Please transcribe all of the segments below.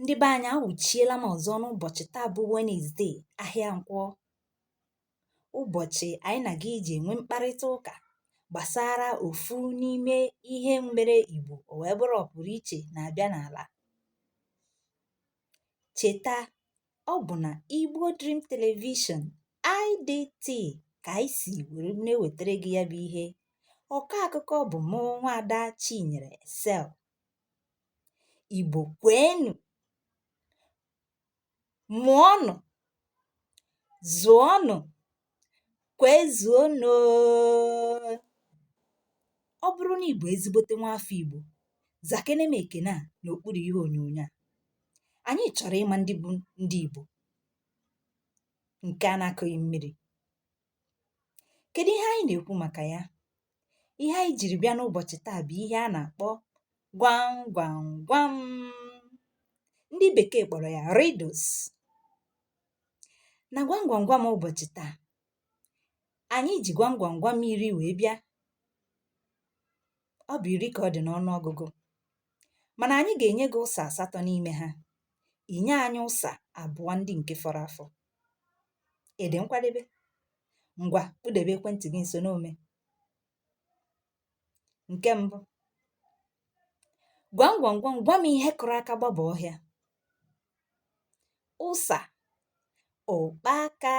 ndị be anyị awụchiela m ọzọ n'ụbọchị taa bụ wenezdee ahịa nkwọ ụbọchị anyị na gị ji enwe mkparịta ụka gbasara ofu n'ime ihe mere igbo o wee bụrụ ọpụrụ iche na-abịa n'ala cheta ọ bụ na igbo dream television idt ka anyị si were na-ewetara gị ya bụ ihe ọkọ akụkọ bụ mụ nwaada chinyere sel Igbo kweenụ, mụọnụ, zụọnụ, kwezuonụ oo. Ọ bụrụ na ị bụ ezigbote nwaafọ Igbo, zakene m ekene a n'okpuru ihe onyonyo a. Anyị chọrọ ịma ndị bụ ndị Igbo nke a na-akụghị mmiri. Kèdụ ihe anyị nà-èkwu màkà ya? Ihe anyị jìrì bịa n'ụbọ̀chì taa bụ̀ ihe a nà-àkpọ gwam gwam gwam. Ndị bèkee kpọ̀rọ̀ ya riddles. Na gwam gwam gwam ụbọ̀chì taa, ànyị jì gwam gwam gwam iri wee bịa. Ọ bụ̀ iri kà ọ dị̀ n'ọnụ ọgụgụ mànà ànyị gà-ènye gị ụsà àsatọ n'ime ha, ị nye anyị ụsà àbụọ ndị ǹke fọrọ afọ. Ị dị nkwadebe? Ngwa kpudebe ekwentị gị nso n'ome. Nke mbụ, gwam gwam gwam gwa m ihe kụrụ aka gbaba ọhịa. Ụsa, ụkpaka.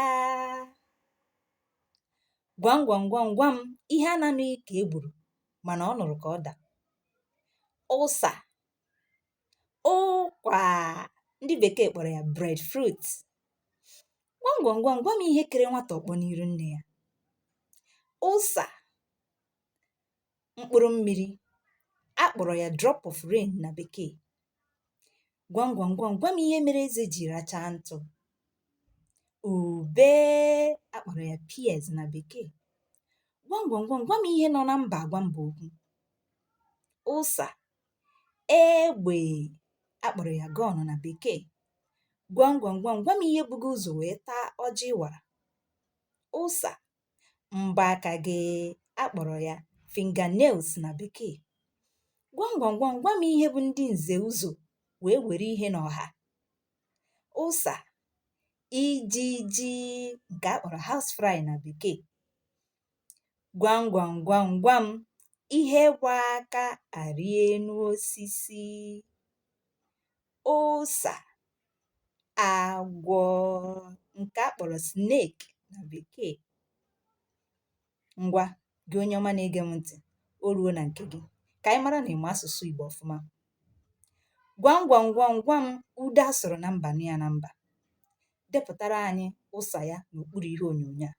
Gwam gwam gwam gwa m ihe a na-anụghị ka e gburu mana ọ nụrụ ka ọ da. Ụsa, ụkwà ndị bèkeè kpọ̀rọ̀ ya bread fruit gwam gwam gwam gwa m ihe kere nwata ọ̀kpọ n'iru nnē ya ụsà mkpụrụ mmīrī a kpọ̀rọ̀ ya drop of rain nà bèkee gwam gwam gwam gwa m ihe mere ezē jì racha ntụ̄ ùbe a kpọ̀rọ̀ ya pears nà bèkee gwam gwam gwam gwa m ihe nọ na mbà àgwa mbà okwu ụsà egbè a kpọ̀rọ̀ ya gun na bekee gwam gwam gwam gwa m ihe bu gị ụzọ̀ wee taa ọjị ị wara ụsà m̀bọ̀ aka gị a kpọ̀rọ̀ ya finger nails na bekee gwam gwam gwam gwa m ihe bu ndị nze ụzọ̀ wee were ihe n'ọha ụsà ijiji nke a kpọ̀rọ̀ house fly na bekee gwamgwamgwamgwam, ihe gba aka arị elu osisi ụsa agwọ nke a kpọrọ snake na bekee ngwa gị onye ọma na-ege m ntị o ruo na nke gị ka anyị mara na ị ma asụsụ Igbo ọfụma gwamgwamgwamgwam ude a sụrụ na mba nụ ya na mba depụtara anyị ụsa ya n'okpuru ihe onyonyo a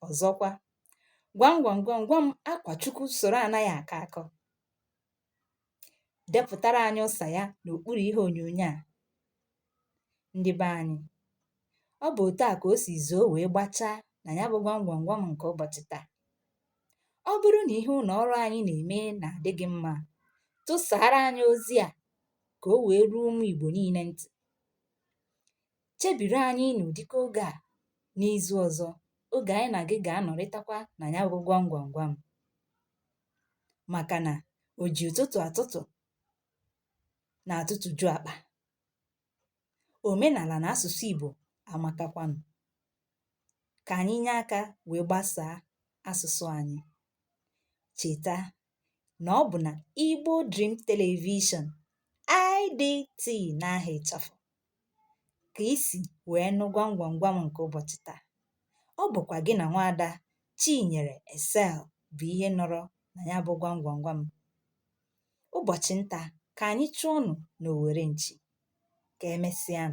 ọ̀zọkwa gwam gwam gwam gwam akwà chukwu sụ̀rụ ànaghị àkọ akọ depụ̀tara anyị ụsà ya n'òkpuru ihe ònyònyo à ndị be anyị ọ bụ̀ òtu à kà o sì zòo wèe gbachaa nà ya bụ gwam gwam gwam ǹkè ụbọ̀chị̀ taa ọ bụrụ nà ihe ụnọ̀ ọrụ anyị nà-ème nà-àdị gị mma tụsàara anyị ozi à kà o wèe ruo ụmụ̀ ìgbò niine ntị̀ chebiri anyị n'ụdịka oge a n'izu ọzọ oge anyị na gị ga-anọrịtakwa na ya bụ gwam gwam gwam maka na o ji ụtụtụ atụtụ na-atụtụju akpa omenala na asụsụ Igbo amakakwanụ ka anyị nye aka wee gbasaa asụsụ anyị cheta na ọ bụ na Igbo Dream Television IDT n'aha ịchafụ ka i si wee nụ gwam gwam gwam nke ụbọchị taa ọ bụkwa gị na nwaada Chinyere Esel bụ ihe nọrọ na ya bụ gwam gwam gwam ụbọchị nta ka anyị chụọnụ n'owere nchi ka emesịa